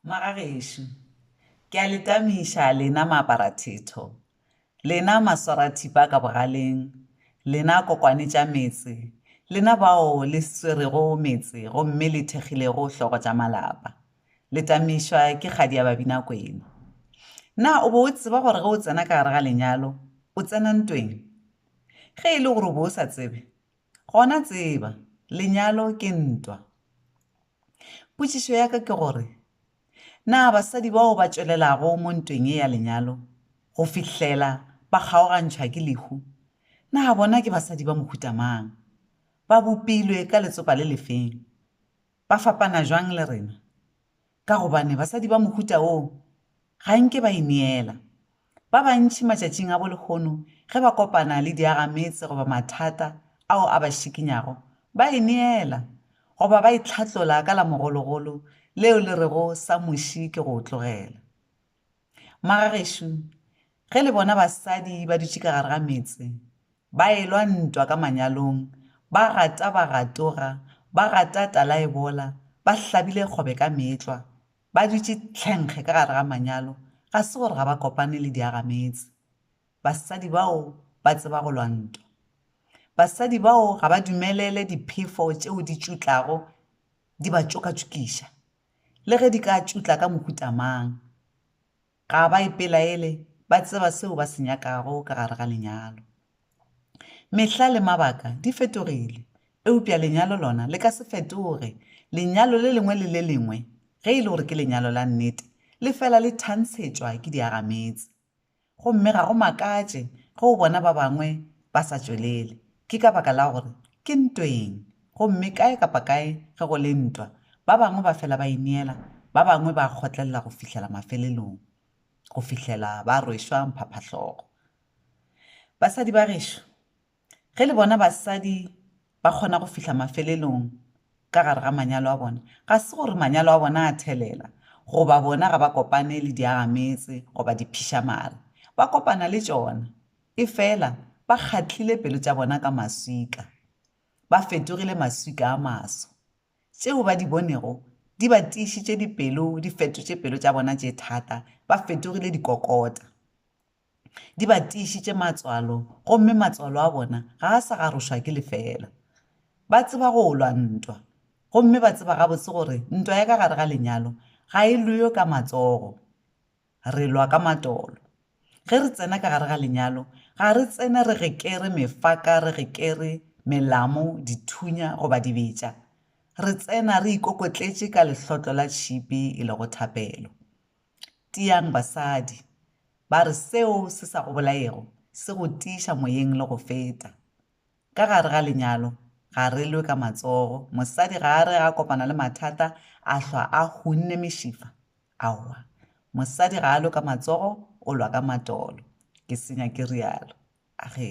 Ngwaga gešo. Ke a le tamiša, lena maaparathetho, lena maswarathipa ka bogaleng, lena kokwane tša metse, lena bao le swerego metse gomme le thekgilego hlogo tša malapa. Le tamišwa ke kgadi ya Babinakwena. Na o be o tseba gore ge o tsena ka gare ga lenyalo, o tsena ntweng? Ge e le gore o be o sa tsebe, gona tseba, lenyalo ke ntwa. Potšišo ya ka ke gore, Na basadi bao ba tšwelelago mo ntweng ye ya lenyalo go fihlela ba kgaogantšhwa ke lehu, na bona ke basadi ba mohuta mang? Ba bopilwe ka letsopa le lefeng? Ba fapana bjang le rena? Ka gobane basadi ba mohuta woo ga nke ba ineela Ba bantši matšatšing a bo lehono ge ba kopana le diagametse goba mathata ao a ba šikinyago, ba e neela, goba ba itlhatlola ka la mogologolo leo le rego sa muši ke go o tlogela. Magagešo, ge le bona basadi ba dutše ka gare ga metse, ba elwa ntwa ka manyalong, ba gata ba gatoga, ba gata talaebola, ba hlabile kgobe ka meetlwa, Ba dutše tlhenkge ka gare ga manyalo, ga se gore ga ba kopane le diagametse. Basadi bao ba tseba go lwa ntwa. Basadi bao ga ba dumelele diphefo tšeo di tšutlago di ba tšokatšokiša, le ge di ka tšutla ka mohuta mang. Ga ba ipelaele, ba tseba seo ba se nyakago ka gare ga lenyalo. Mehla le mabaka di fetogile, eupša lenyalo lona le ka se fetoge. Lenyalo le lengwe le le lengwe, ge e le gore ke lenyalo la nnete, le fela le thantshetšwa ke diagametse. Gomme ga go makatše ge o bona ba bangwe ba sa tšwelele. Ke ka baka la gore ke ntweng Gomme kae kapa kae ge go le ntwa, ba bangwe ba fela ba ineela, ba bangwe ba kgotlelela go fihlela mafelelong, go fihlela ba rwešwa mphaphahlogo. Basadi ba gešo, ge le bona basadi ba kgona go fihla mafelelong ka gare ga manyalo a bona, ga se gore manyalo a bona a thelela, goba bona ga ba kopane le diagametse goba diphišamare. Ba kopana le tšona, efela ba kgatlile pelo tša bona ka maswika. ba fetogile maswika a maso. Tšeo ba di bonego di ba tiišitše dipelo, di fetotše pelo tša bona tše thata, ba fetogile dikokota. Di ba tiišitše matswalo, gomme matswalo a bona ga a sa garošwa ke lefela. Ba tseba go lwa ntwa, gomme ba tseba gabotse gore ntwa ya ka gare ga lenyalo ga e lwewe ka matsogo. re lwa ka matolo. Ge re tsena ka gare ga lenyalo, ga re tsene re gekere mefaka, re gekere melamu, dithunya goba dibetša. Re tsena re ikokotletše ka lehlotlo la tšhipi e lego thapelo. Tiang basadi! ba re seo se sa go bolaego se go tiiša moyeng le go feta. Ka gare ga lenyalo ga re lwe ka matsogo, mosadi ga a re ge a kopana le mathata a hlwa a hunne mešifa. Aowa, mosadi ga a lwe ka matsogo, o lwa ka matolo. Ke senya ke rialo. Age.